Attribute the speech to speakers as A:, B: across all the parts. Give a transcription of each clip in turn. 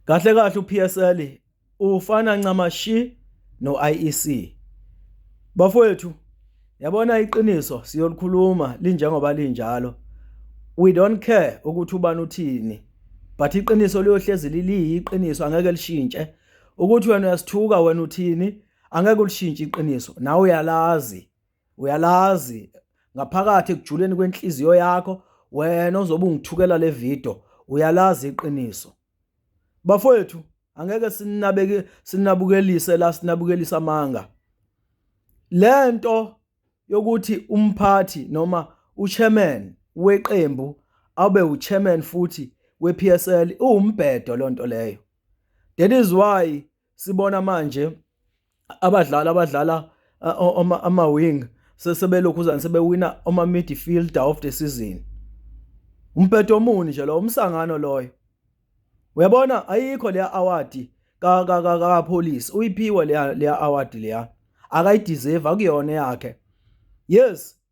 A: Kahle kahle uPSL ufana ncamashi noIEC. Bafowethu yabona iqiniso siyolikhuluma linjengoba linjalo. We don't care ukuthi ubani uthini. But iqiniso liyohlezi liyiqiniso angeke lishintshe. Ukuthi wena uyasithuka wena uthini angeke ulishintshe iqiniso. Nawe uyalazi. uyalazi ngaphakathi ekujuleni kwenhliziyo yakho wena ozobe ungithukela le video uyalazi iqiniso bafowethu angeke sinabeke sinabukelise la sinabukelisa amanga lento yokuthi umphathi noma uchairman weqembu abe uchairman futhi wePSL uwumbhedo lonto leyo that is why sibona manje abadlali abadlala ama wing sesebelokhuzana sebewina ama midfielder of the season umpetho omuni nje lo umsangano loyo uyabona ayikho leya award ka ka ka ka police uyiphiwe leya leya award leya akayideserve akuyona yakhe yes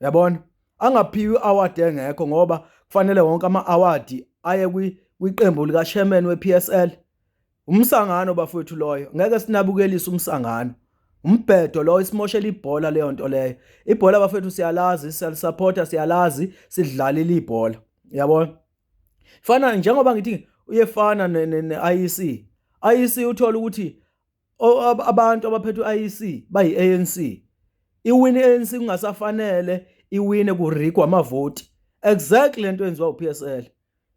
A: yabona angaphiwa i-award engekho ngoba kufanele wonke ama-award aye kwiqembu likasherman we-psl umsangano bafowethu loyo ngeke sinabukelise umsangano umbhedo lowo isimoshela ibhola leyo nto leyo ibhola bafethu siyalazi siyalisapota siyalazi sidlalile ibhola yabona fana njengoba ngithi uyefana ne-IEC IEC uthola ukuthi abantu abaphethwe IEC bayi ANC iwini ANC kungasafanele iwine kurikwa amavoti exactly lento yenziwa uPSL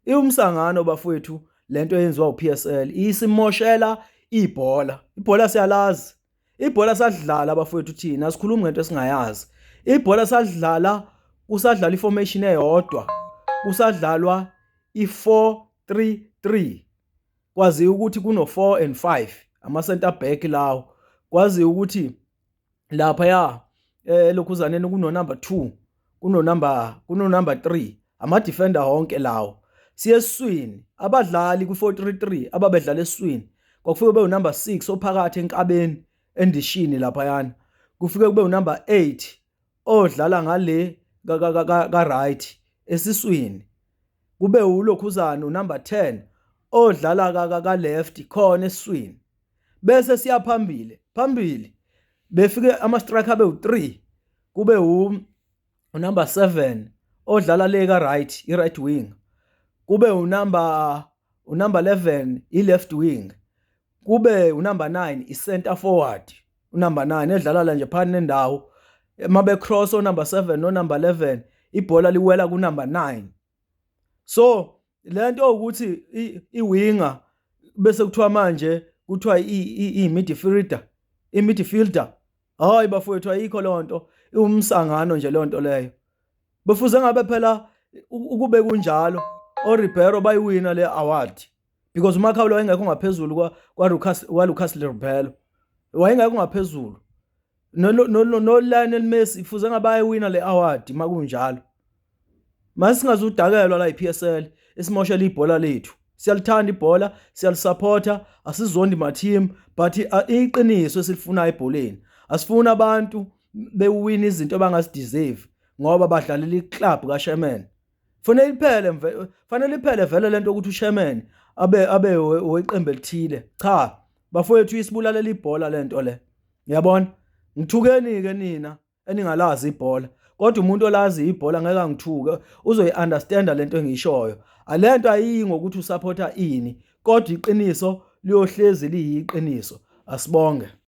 A: iwumsangano bafowethu lento yenziwa uPSL isimoshela ibhola ibhola siyalazi ibhola sadlala bafowethu thina sikhuluma ngento esingayazi ibhola sadlala kusadlala iformation eyodwa kusadlalwa i433 kwaziwa ukuthi kuno-four and five ama-center back lawo kwaziwa ukuthi laphaya eh lokhuzaneni kunonumber two kunonumber kunonumber three ama-defender honke lawo siye eswini abadlali kwi-four three three ababedlala eswini kwakufike kube unumber six ophakathi enkabeni endishini laphayana kufike kube unumber eight odlala ngale ka right esiswini kube ulokhuzana unumber 10 odlala ka ka left khona esiswini bese siya phambili phambili befike ama striker abe u3 kube u number 7 odlala le ka right i right wing kube u number u number 11 i left wing kube unumber 9 i-center forward unumber 9 edlalala nje phakathi nendawo uma becross onumber 7 nonumber 11 ibhola liwela kunumber 9 so lento ukuthi iwinga bese kuthiwa manje kuthiwa i-midfielder i-midfielder hayi bafowethu ayikho lonto iwumsangano nje lonto leyo befuze ngabe phela ukube kunjalo oRibeiro bayiwina le award because uMakhawula wayengekho ngaphezulu kwa kwa Lucas wa Lucas Lirubelo wayengekho ngaphezulu no no no Lionel Messi ifuze ngabaye wina le award makunjalo masingazudakelwa la iPSL isimoshela ibhola lethu siyalithanda ibhola siyalisupport asizondi ma team but uh, iqiniso esilifunayo ebholeni asifuna abantu bewina izinto abangazideserve ngoba badlalela iclub kaSherman fanele iphele mve fanele iphele vele lento ukuthi usherman abe abe weqembu elithile cha bafowethu isibulalela ibhola lento le yabona ngithukeni ke nina eningalazi ibhola kodwa umuntu olazi ibhola ngeke angithuke uzoyi-understand lento engiyishoyo alento ayiyi ngokuthi usupporta ini kodwa iqiniso liyohlezi liyiqiniso asibonge